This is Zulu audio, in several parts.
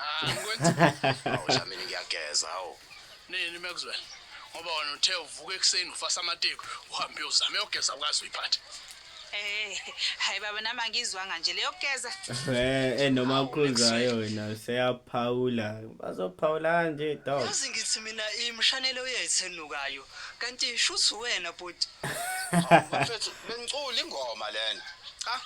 Ah, ngikwenza. Awu cha mina ngiyageza awu. Nini Maxwell? Ngoba wena uthe uvuka ekuseni ufasa amateku, uhambe uyozama eyogeza ukazi uyiphathe. Eh, hayi baba nami angizwanga nje leyo kugeza. Eh, eh noma ukhuluzayo wena seyaphawula. Bazophawula nje dog. Yazi ngithi mina imshanelo yethu enukayo. Kanti shuthi wena bhuti. Mfethu bengicula ingoma lena. Cha.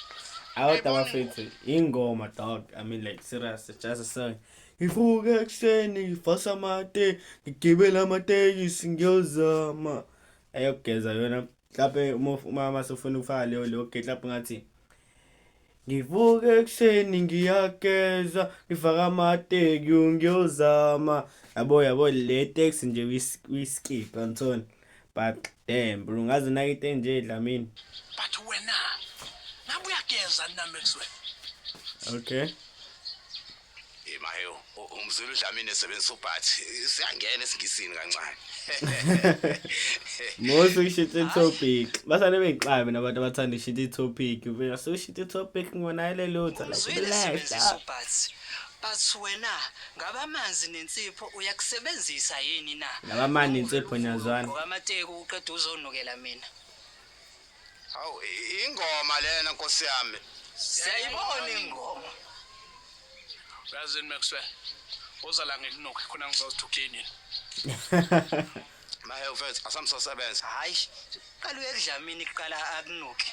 Awuda bafethu. ingoma dog i mean like serious just a song ngivuka ekuseni ngifasa amate ngigibela amatekisi ngiyozama ayokugeza yona mhlawumbe umama sefuna ukufaka leyo leyo gate lapho ngathi ngivuka ekuseni ngiyageza ngifaka amateki ngiyozama yabo yabo le teksi nje uyiskipha ngithona But damn bro ngaze nakite nje Dlamini. But wena ngabe uyageza namexwe. Okay. Imaheyo umzulu Dlamini esebenzisa ubhathi siyangena esingisini kancane. Most ushite topic. Basane bengixabe nabantu abathanda ushite topic. Uvela so ushite topic ngona ile lutha. Relax. But wena ngabe amanzi nensipho uyakusebenzisa yini na? Laba mani insipho niyazwana. Ngamateku uqeda uzonukela mina. Hawu i- ingoma lena nkosi yami. Siyayibona ingoma. Uyazini Maxwell. Uza la ngikunuke khona ngizozithi ucleanile. Mahe mfethu asamsosebenza. Hayi. Qala uyekudlamini kuqala akunuke.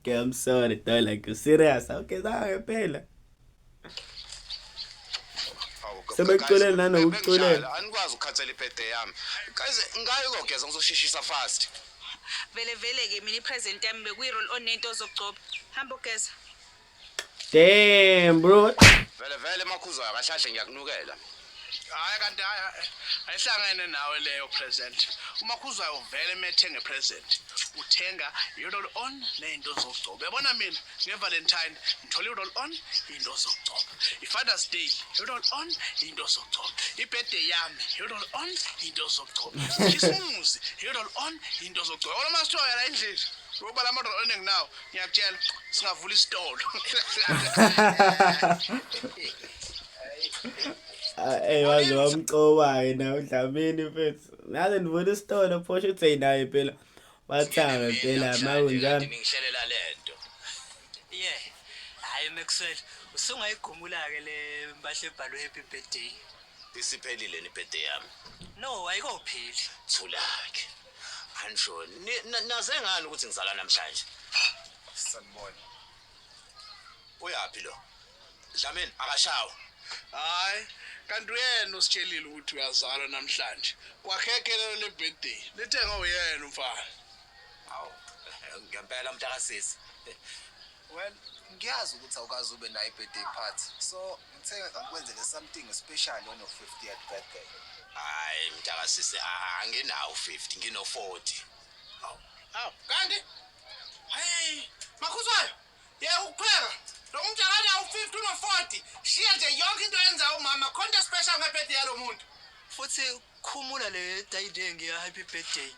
okay, I'm sorry, though. Like, you're serious. Okay, da, ngempela. Sebekuculela nanokuculela. Anikwazi ukukhathela ibhede yami. Guys, ngayo kogeza ngizoshishisa fast. Vele vele ke mina ipresent yami bekuyi roll on nento ozogcoba. Hamba ugeza. Damn bro. Vele vele makhuzwayo akashashe ngiyakunukela. Hayi kanti ayihlangene nawe leyo present. Uma khuzwayo uvele methenge present. Uthenga i-roll on nezinto zokugcoba. Yabona mina ngeValentine ngithole i-roll on into zokugcoba. I-Father's Day i-roll on into zokugcoba. I-birthday yami i-roll on into zokugcoba. Isimuzi i-roll on into zokugcoba. Ola masithoya la endlini. Ngoba la ma-roll on enginawo ngiyakutshela singavula isitolo eyi ah, waze wamcobayo nawe dlamini mfethu ngaze ndivula isitolo phosho uthi eyinaye phela wathanga phela makunjani ngihlelela lento ye hayi maxwell usungayigumula-ke le mpahla ebhalwe happy birthday isiphelile ni birthday yami no ayikopheli thulake Ansho, ni- na- naze ngani ukuthi ngizalwa namhlanje? Sanibona. Uyaphi lo? Dlamini akashawa. Hayi, kanti uyena ositshelile ukuthi uyazalwa namhlanje. Kwakheke lelo le birthday. Lithenga uyena umfana. Hawu, ngempela mntakasisi. Well, ngiyazi ukuthi awukazi ube nayo i-birthday party. So, ngithe ngikwenzele something special on your 50th birthday. Hayi mntaka sisi a- anginawo 50 ngino 40. Aw. Aw, kanti? Hey, makhuzwayo. Yeka ukupheka. Lo muntu akanawo 50 uno 40. Shiya nje yonke into yenza umama khonto special ngebirthday yalo muntu. Futhi khumula le dayide ngiya happy birthday.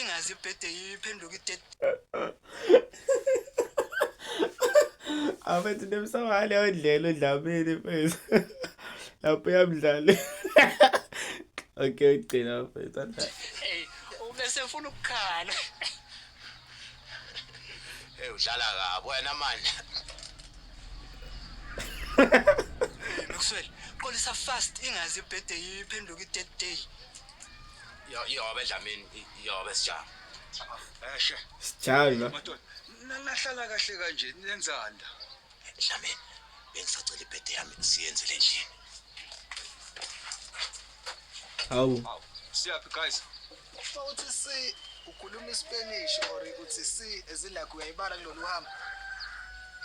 ingazi ibhede iphenduka idede abethi nemsawale odlela odlamini mfethu lapho yamdlali okay ugcina mfethu ubese funa ukukhala Hey udlala kabi wena manje. Maxwell, qolisa fast ingazi ibhede iphenduka i-dead day. Yo yo bedlamini yo besijama. Eshe. Sijalo. Madoda, nahlala kahle kanje nenzanda. Nami bengisacela ibhede yami siyenze le ndlini. Hawu. Siyaphi guys? Futhi si ukhuluma iSpanish or uthi si ezilakho uyayibala kulolu hambo.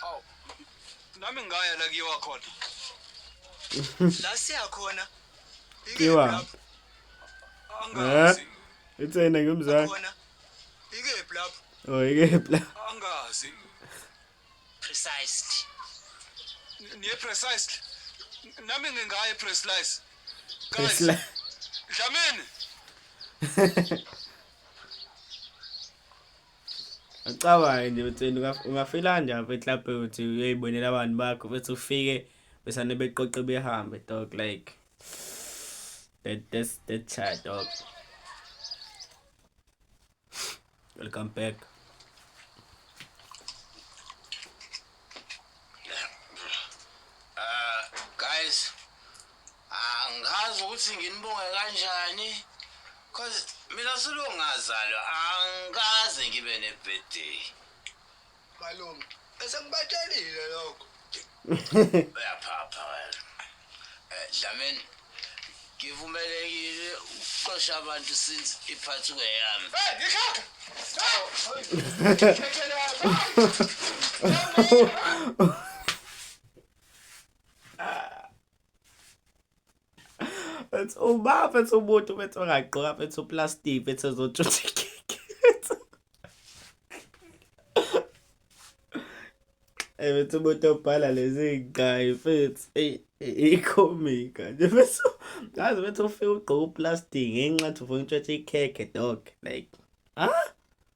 Hawu. Nami ngaya la kiyo wakhona. La siyakhona. Iwa. Angazi. Eh? Itsena ngimzansi. Ike blab. Oh, ike blab. Angazi. Precisely. Niye precisely. Nami ngingaye precisely. Guys. Presli- Dlamini. Ucabange nje ukuthi wena ungaf- ungafela nje apha eklabhe ukuthi uyoyibonela abantu bakho futhi ufike besane beqoqe behambe dog like that that's that child dog Welcome back. Uh, guys, angazi ukuthi nginibonge kanjani cause mina silungazalwa angikaze ngibe ne-birthday. Malume, bese ngibatshelile lokho. Uyaphapha wena. Eh, Dlamini, ngivumelekile ukuxosha abantu since iphathi kuyeyami. Hey, ngikhakha. Hey. It's uma it's umuntu bethi ongagqoka bethi uplastic bethi ezotshutha ikeke. Eh bethi umuntu obhala lezi guy futhi eh ikhomika nje bethi ngazi bethi ufika ugqoka uplastic ngenxa ukuthi ufuna ukutshutha ikeke dog like ah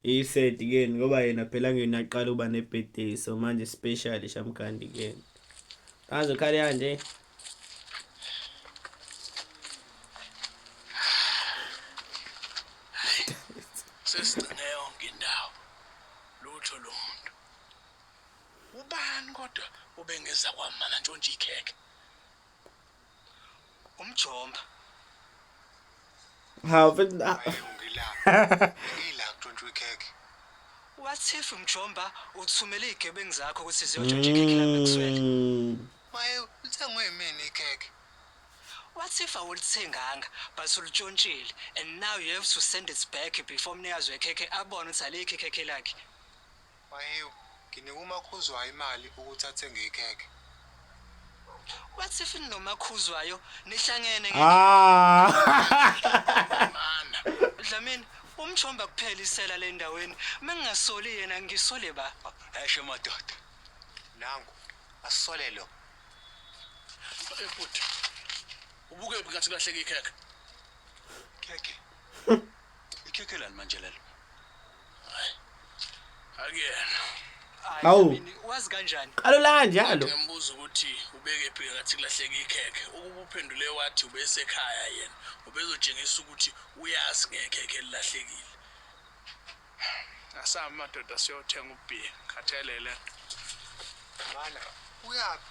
Ised ke ngoba yena phela ngena aqala uba ne birthday so manje special shamkandi ke. Kaze khale yande. Sesine yonke indawo. Lutho lo muntu. Ubani kodwa ubengeza kwamana ntshontshe ikhekhe. umjomba hawu mfethu na- ngila ngila kuntshontsha ikhekhe what if mjomba uthumele igebengu zakho ukuthi ziyotshontsha ikhekhe lami ekuswele Mm. maye uthengwe yimini ikhekhe what if awulithenganga but ulitshontshile and now you have to send it back before umnikazi wekhekhe abone ukuthi alikho ikhekhe lakhe Mahewu, Nginika uMaKhuzwayo imali ukuthi athenge ikhekhe. What if ninoMaKhuzwayo nihlangene nge Ah. Dlamini, Umjomba kuphela isela le ndaweni. Uma ngingasoli yena ngisole ba. Esho madoda. Nangu, asisole lo. Eh bhuti. Ubukephi ngathi kulahleka ikhekhe? Khekhe. Ikhekhe lani manje lelo? akuyena Hawu. Mina, wazi kanjani Qalo la njalo. ngambuza ukuthi ubeke phi ngathi kulahleka ikhekhe ukuba uphendule wathi ubesekhaya yena ubezotshengisa ukuthi uyazi ngekhekhe elilahlekile asahambe madoda siyothenga ubhiya khathelele Mana, uyaphi?